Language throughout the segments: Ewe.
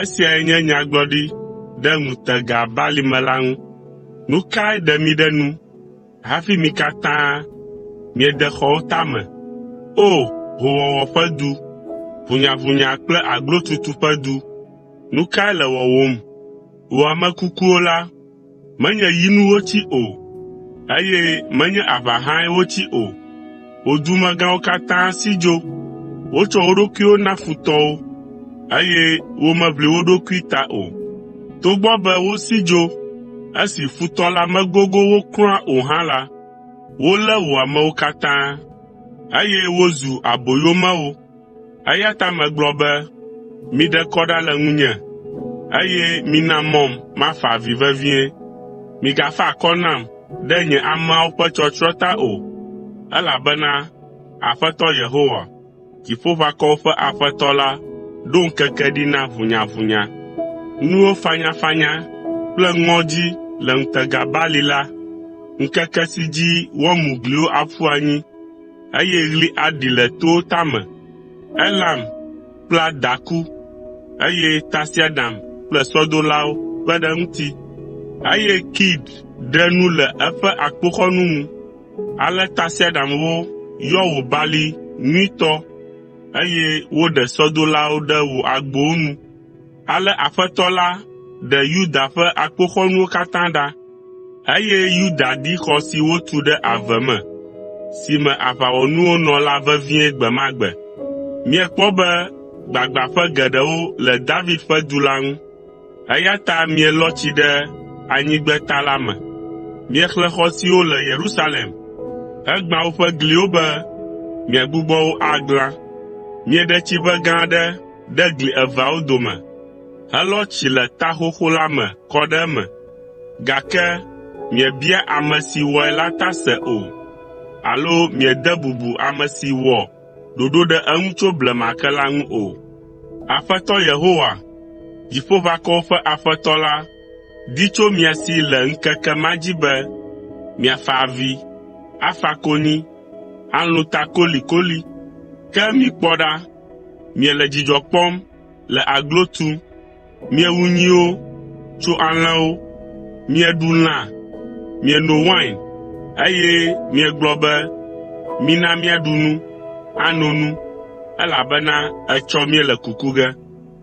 Esiae nye nyagblɔɖi ɖe ŋutega balime la ŋu. Nu kae ɖe mi ɖe nu hafi mi katã miede xɔwo tame, O hoowɔwɔ ƒe du, ʋunyaʋunya kple aglotutu ƒe du, nu kae le wɔwòm, Wò ame kukuwo la, menye yi nu wotsi o, eye menye aʋa hãe wotsi o. Wò dumegãwo katã si dzo. Wotsɔ wo ɖokuiwo na futɔwo, eye womeʋli wo ɖokui ta o. Togbɔ be wosi dzo esi futɔ la megogo wo kura o hã la, wolé wò amewo katã, eye wozu aboyomewo. Eya ta megblɔ be, “Miɖe kɔ ɖa le ŋunye, eye mina mɔm mafa avi vevie. Migafa akɔ nam ɖe nye ameawo ƒe tsɔtsrɔ̃ ta o, elabena Aƒetɔ Yehowa, Dziƒoʋakɔwo ƒe Aƒetɔ la, ɖo ŋkeke ɖi na ʋunyaʋunya. Nuwo fanyafanya kple ŋɔdzi le ŋutega bali la, ŋkeke si dzi woamu gliwo aƒu anyi. eye ɣli aɖi le towo tame. Elam kpla daku, eye tasiaɖam kple sɔdolawo kpe ɖe eŋuti, eye Kir ɖe nu le eƒe akpoxɔnu ŋu. Ale tasiaɖamwo yɔ wò balime nyuitɔ, eye woɖe sɔdolawo ɖe wò agbowo nu. Ale Aƒetɔ la ɖe Yuda ƒe akpoxɔnuwo katã ɖa, eye Yuda ɖi xɔ si wotu ɖe ave me, si me aʋawɔnuwo nɔ la vevie gbe ma gbe. Miekpɔ be gbagbãƒe geɖewo le David ƒe du la ŋu, eya ta mielɔ tsi ɖe anyigbeta la me. Miexlẽ xɔ siwo le Yerusalem, hegbã woƒe gliwo be miagbugbɔ wo aglã. Mieɖe tsiʋe gã aɖe ɖe gli eveawo dome helɔ tsi le ta xoxo la me kɔ ɖe eme, gake miebia ame si wɔe la ta se o alo miede bubu ame si wɔ ɖoɖo ɖe eŋu tso blema ke la ŋu o. Aƒetɔ Yehowa, Dziƒoʋakɔwo ƒe Aƒetɔ la, di tso mia si le ŋkeke ma dzi be miafa avi, afa konyi, alũ ta kolikoli. Ke mikpɔ ɖa Miele dzidzɔ kpɔm le aglo tum. Miewu nyiwo, tso alẽwo. Mieɖu lã, mieno wain, eye miegblɔ be, ‘Mina míaɖu nu, ano nu, elabena etsɔ míele kuku ge.’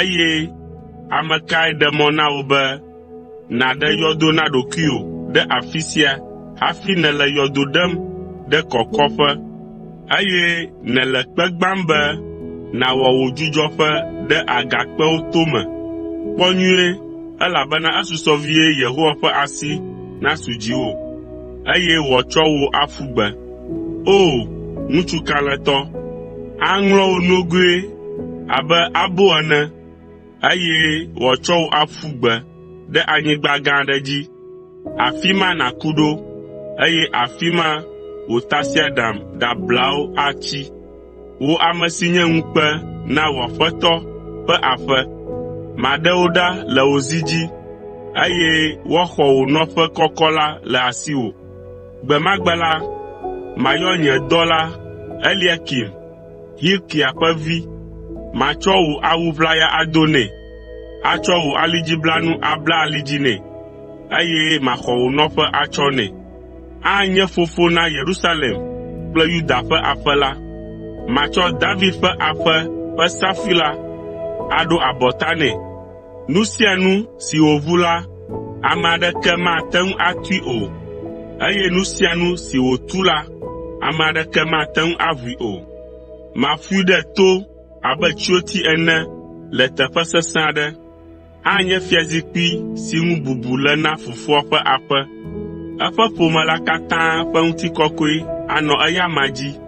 Eye ame kae ɖe mɔ na wò be nàɖe yɔdo na ɖokuiwò ɖe afi sia hafi nèle yɔdo ɖem ɖe kɔkɔƒe, eye nèle kpe gbãm be nàwɔ wò dzudzɔƒe ɖe agakpewo tome? Kpɔ nyuie, elabena esusɔ vie Yehowa ƒe asi nasu dziwò, eye wòatsɔ wò aƒu gbe. O! Ŋutsu kalẽtɔ, aŋlɔ wò nogoe abe abo ene, eye wòatsɔ wò aƒu gbe ɖe anyigba gã aɖe dzi. Afi ma nàku ɖo, eye afi ma wò tasiaɖam ɖablawo atsi. Wò ame si nye ŋukpe na wò aƒetɔ ƒe aƒe, maɖe wò ɖa le wò zi dzi, eye woaxɔ wò nɔƒe kɔkɔ la le asiwò. “Gbe ma gbe la, mayɔ nye dɔla Eliakim, Hilkia ƒe vi, matsɔ wò awu ʋlaya ado nɛ, atsɔ wò alidziblanu abla ali dzi nɛ, eye maxɔ wò nɔƒe atsɔ nɛ. Anye fofo na Yerusalem kple Yuda ƒe aƒe la. Matsɔ David ƒe aƒe ƒe safui la aɖo abɔta nɛ. Nu sia nu si wòʋu la, ame aɖeke mate ŋu atui o, eye nu sia nu si wòtu la, ame aɖeke mate ŋu aʋui o. Maƒoe ɖe to abe tsroti ene le teƒe sesẽ aɖe. Anye fiazikpui si ŋu bubu le na Fofoa ƒe aƒe. Eƒe ƒome la katã ƒe ŋutikɔkɔe anɔ eya amea dzi,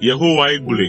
Yehowae gblɔe.